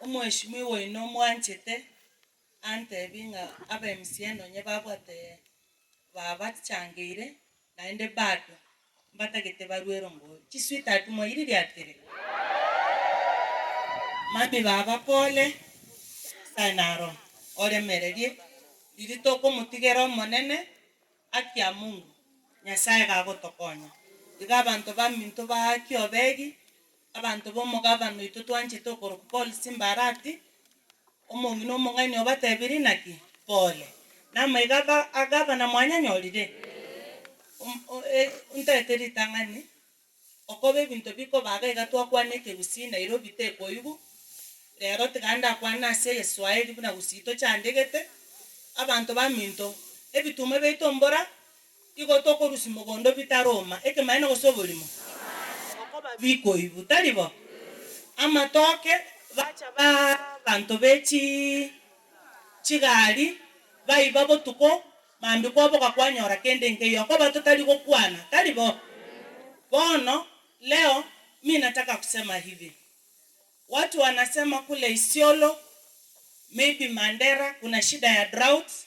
Omoeshimiwa oino omwanchete antebi ng'a abemsie nonye babwate babachangeire naende bado mbatagete barue erongo chi sweetheart mwairirie atiri? Mami baba pole nyasaye naro oremererie riria tokomotigera omonene haki ya mungu nyasaye iga agotokonya iga abanto baminto baake obegi. Abanto b'omogabane oito twanchete okorokwa Paul Simbarati, omong'ina omong'aini obatebirie naki? Pole. Namaiga aba agabana mwanyanyorire? Om o e ntaete ritang'ani okoba ebinto bikobaga iga twakwana ekegusii Nairobi tekoigwa, rero tiga ndakwane ase egeswaeri buna gusii tochandegete, abanto baminto ebituma biaito mbora Igo tokorusia mogondo bitaroma. Ekemanyeto gose oborimo? Bokoba bikoibu, tari bo? Amatoke, bacha baa abanto be chi chigari, baiba botuko, mambia kwaboka kwanyora kende nkeiyo. Okoba totari gokwana, tari bo? Bono, leo, mi nataka kusema hivi. Watu wanasema kule Isiolo, maybe Mandera, kuna shida ya droughts,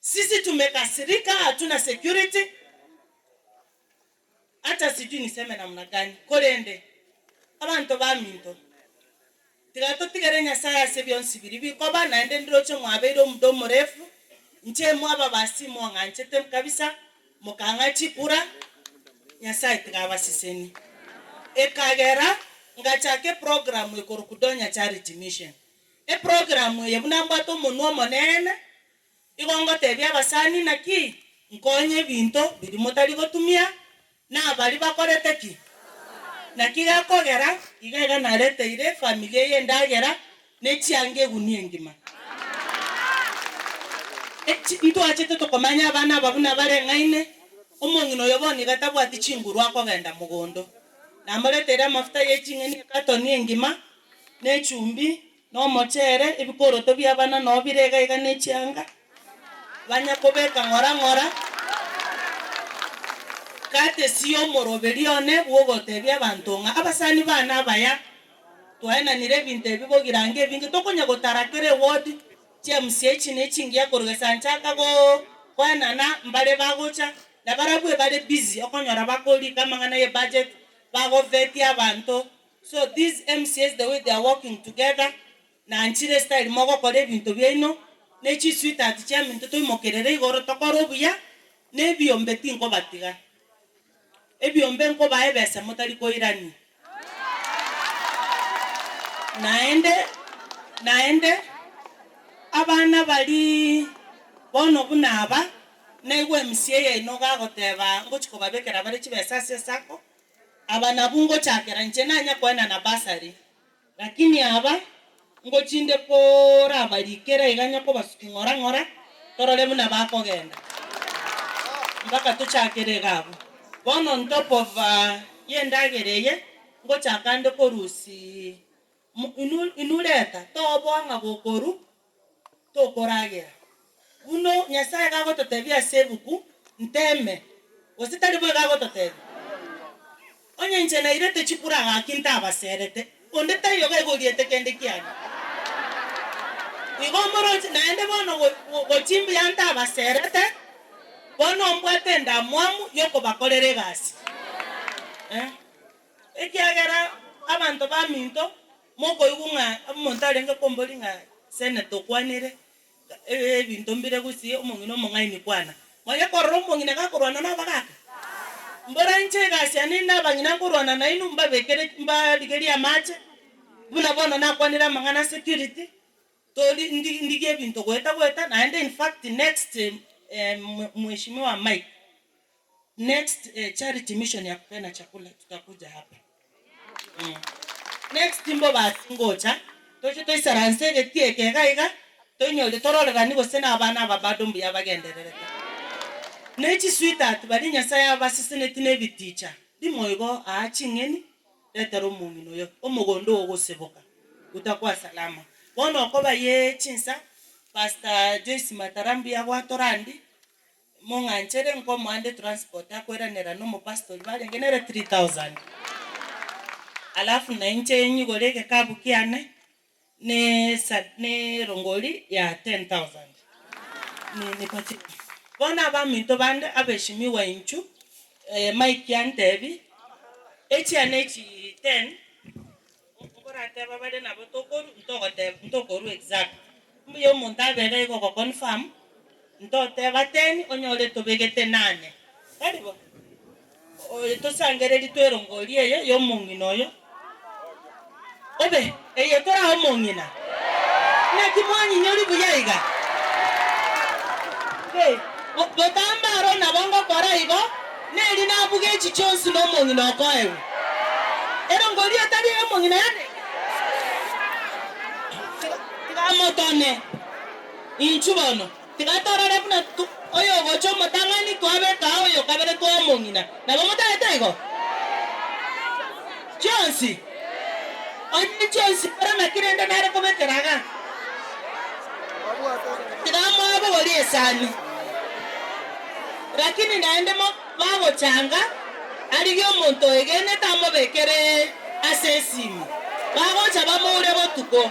Sisi tumekasirika hatuna security hata sijui niseme namna gani korende abanto baminto tiga totigere Nyasaye ase bionsi biria bikoba naende ndiroche mwabeire omuda omorefu inche mwababasi mong'anchete kabisa mokang'a chikura Nyasaye tiga abasesenie ekagera ngachaka eprogramu ekoroku Donya Charity Mission Eprogramu eye buna mbwate omonwa omonene, igo ngotebia abasani naki, nkonye ebinto biria motari gotumia, na abaria bakorete ki? Naki gekogera iga iga nareteire efamili eye endagera ne chianga egunia engima. Echi ntwachete tokomanya abana aba buna bareng'aine, omong'ina oyo bono iga tabwati chinguru akogenda mogondo. Namoreteire amafuta ye ching'eni ekatoni engima, nechumbi, na omochere, ebikoroto bi'abana nao bire iga iga ne chianga, banya kobeka ng'ora ng'ora, gatesia omoroberia one bw'ogotebia abanto ng'a abasani baane abaya twaenanire ebinto ebi bogirange ebinge tokonya gotara kera eward chia mca echi ne chingiya korwa gesanchaka go koenana mbare bagocha na barabwo ebare busy okonyora bakorika amang'ana ye budget bagovetia abanto. So these MCAs the way they are working together nanchire style mogokora ebinto biaino ne chi sweetheart chiaminto toimokerere igoro tokore obuya ne ebiombe tinkobatiga ebiombe nkobae ebesa motari koirania naende naende abana bari bono buna aba naigwe MCA yaino gagoteba ngochi kobabekera bare chibesa ase sacco Aba nabwo ngochakera inche nanya koenana basari, lakini aba ngochinde korabarikera iga nya kobasuki ng'ora ng'ora torore buna bakogenda mpaka tochakere iga abwo. Bono on top of y'endagera eye, ngochaka nde korusia Inwe reta toboa ng'a bokoru tokoragera, buna Nyasae gagototebia ase ebuku, Nteme, gose tari bo igo agototebia? Onye inche nairete chikura gaki ntabaserete, onde taiyo iga aigoriete kende kiane. Igo moroche naende bono gochia mbuya ntabaserete, bono mbwate endamwamu y'okobakorera egasi. Ekiagera abanto baminto mokoigwa ng'a omonto arenge kombori ng'a Seneta okwanire ebinto mbire gose omong'ina omong'aini kwana. Mwaya korora omong'ina gakorwana nobogaka? Mbora inche egasi yane inde abang'ina nkorwana nainwe mbabekere mbarigerie amache buna bono nakwanire amang'ana security tori ndi ndigie ebinto goeta goeta naende infact next mheshimiwa Mike. Next charity mission ya kupeana chakula tutakuja hapa next mbobasi ngocha toche toisaranse egetie eke iga iga toinyore tororerani gose nabana aba bado mbuya bagendererete ne chi sweetheart baria nyasaye abaseseneti ne ebiticha ndimo igo aa ching'eni retera omong'ina oyo omogondo oo ogoseboka utakuwa salama bono okoba ye chinsa pastor Joyce matara mbuya gwatora ndi. Mong'anchere nkomoande transport akoiranera nomopastori barenge nere 3000 alafu nainche nyigore egekabu kiane ne ne erongori ya 10000 bono abaminto bande abeshimiwa inchu Mike antebi echiane echi 10. Nkorateba bare nabo tokoru ntogoteba ntokorwa exact. Mbuya omonto abere igo ogo confirm ntoteba ten onyore tobegete nane. Tari bo? Oyo tosangereri twerongorie eye ya omong'ina oyo. Obe eye kora omong'ina? Naki mwanyinyori buya iga? Gotamba aro nabo ngokora igo. Neri nabuge echi chionsi nomong'ina okoegwa. Erongo eria etari ey'omong'ina yane. Tigamotome inchu bono. Tigatorore buna oyogocha omotang'ani twabeka oyo kabere tw'omong'ina. Nabo motagete igo? Chionsi. Onye chionsi mborema kerende nare kobekera iga, tiga mwabogorie esani. Lakini naende mo bagochanga, arigie omonto oegenete amobekere ase esimi, bagocha bamoure botuko.